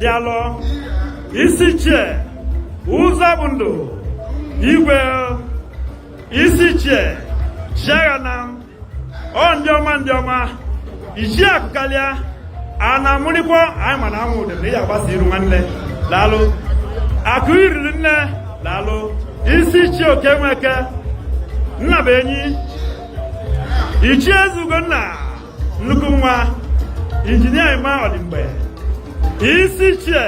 daalụ isi ichie ụzọ bụ ndụ igwe isi ichie Chiaghanam ọ ndị ọma ndị ọma ichie akụ karịa a na-amụrịkwa anyị ma na anwụ ụdị na ị agbasa iru nwanne daalụ akụ iriri nne daalụ isi ichie Okey Nweke nna bụ enyi ichie ezugo nna nnukwu nwa injinia Emma Odimgbe isi ichie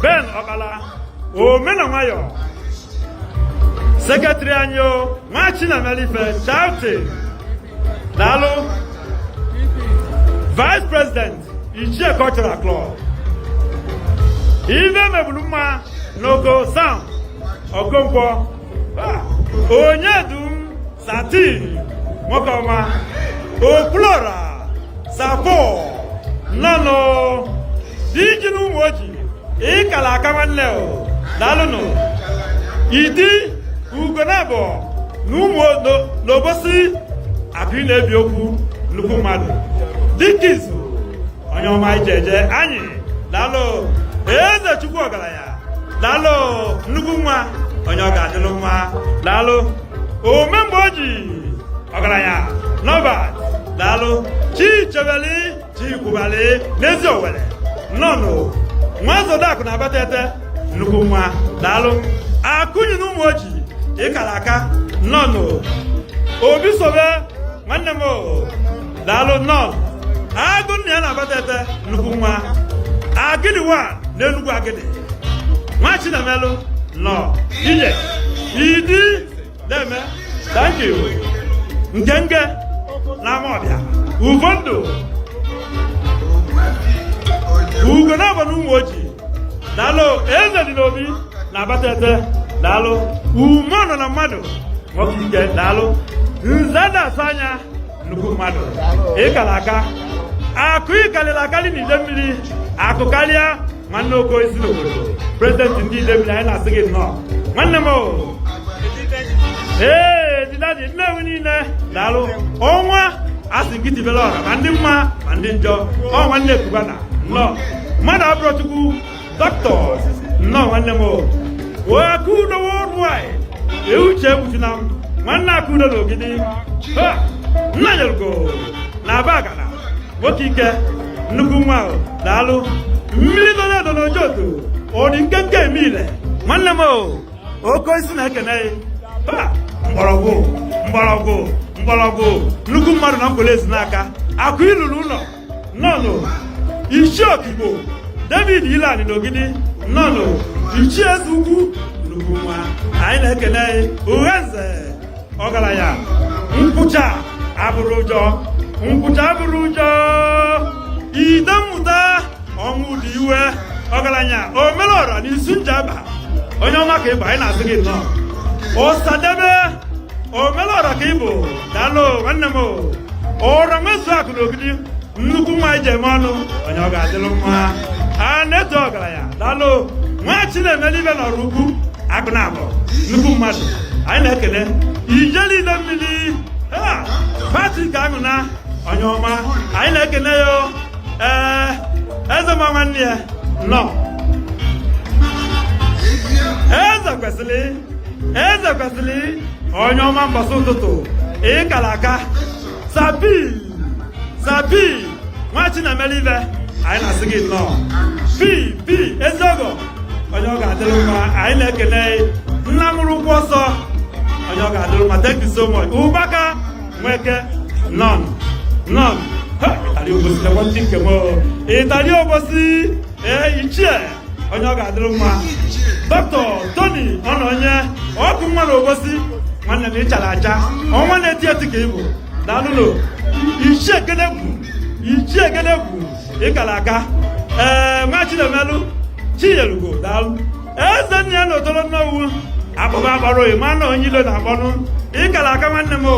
Ben Ọkpala ome na nwayọ sekretịrị anyị o nwa Chinamelife Charity daalụ vice president ichie cultural club ife mebulu mma n'Oko Sam Okonkwo Onyedum satin nwoke ọma okwulọra sapo nnọnụ di ji na Umuoji ịkala aka nwanne o daalụnụ idi Ugonabọ na ụmụ n'Obosi akụ na-ebi okwu nnukwu mmadụ dịka izu onye ọma ije eje anyị daalụ eze chukwu ọgalanya daalụ nnukwu nwa onye ọ ga-adịlụ mma daalụ ome mgbe o ji ọgaranya Norbert daalụ chichebeli chikwubali n'Eziowelle nnọnụ nwa zodakụ na Abatete nnukwu nwa daalụ akụnyi na Umuoji ịkala aka nnọnụ obi sobe nwanne m daalụ nnọọ agụ nna ya na Abatete nnukwu nwa agịdịwa na Enugwu Agidi nwa chinamelụ nnọọ ije idi deeme thank you ngenge na Amawbia Ufondu Ugonabọ na Umuoji daalụ eze dị n'obi na Abatete daalụ ume nọ na mmadụ nwoke ike daalụ nze na-asa anya nnukwu mmadụ ịkala aka akụ ịkalịlị akalị na Idemili akụ kalịa nwanne oko isi n'obodo prezidenti ndị Idemili anyị na-asị gị nnọọ nwanne m ee didadi Nnewi niine daalụ ọnwa asị gị tibelụ ọra ma ndị mma ma ndị njọ ọ nwanne Cubana nnọọ mmadụ abụrọ chukwu Doctors, nnọọ nwanne m Akudo worldwide ee Uche Ebuchunam nwanne Akudo na Ogidi Nnanyelugo na Abagana nwoke ike nnukwu nwa ahụ daalụ mmili dolu edo n'Ojoto ọ dị nkenke eme ile nwanne m oke isi na-ekene mgbọrọgwụ mgbọrọgwụ mgbọrọgwụ nnukwu mmadụ na Nkpor ezi n'aka akụ lulu ụnọ nnọnụ ichie okigbo david ilani n'ogidi nnọnụ ichie eze ukwu nnukwu nwa anyị na-ekele ughanze ọgalanya nkwụcha abụrọ ụjọ nkwụcha abụrọ ụjọ ide mmụta ọnwụ dị iwe ọgalanya omelọra na isu njaba onye ọma ka ịbụ anyị na-asị gị nnọọ ọsadebe omelọra ka ịbụ daalụ nwanne m ọra nwezu akụ na ogidi nnukwu nwa eji eme ọnụ onye ọ ga-adịlụ mma a na-eto ọgalanya daalụ nwa chinemelụ ife n'ọraukwu akụ na abụọ nnukwu mmadụ anyị na-ekele ijele idemmili patrick anwụna onye ọma anyị na-ekele ya ee eze ma nwanne ya nnọọ eze kwesili eze kwesili onye ọma mbọsị ụtụtụ ịkara aka sabi sabi nwa chinemelụ ife anyị na-asị gị nnọọ pi pi eziọgọ onye ọ ga-adịrị mma anyị na-ekele nna mụrụ ụgwọ ọsọ onye ọ ga-adịrị mma thank you so much ụbaka nweke nnọọ nnọọ ịtali obosi na nwanne nke m ịtali obosi ee ichie onye ọ ga-adịrị mma dọkịta toni ọnọnye ọkụ nwa na obosi nwanne m ịchala acha ọnwa na-eti eti ka ịbụ daalụnụ ichie ekene bụ ichie ekene bụ ịkara aka ee nwa chinemelụ chiyelugo daalụ ezennia na otolo nnewi akpụkpọ akpọrọ ịma na onye ilo na-akpọnụ ịkara aka nwanne m o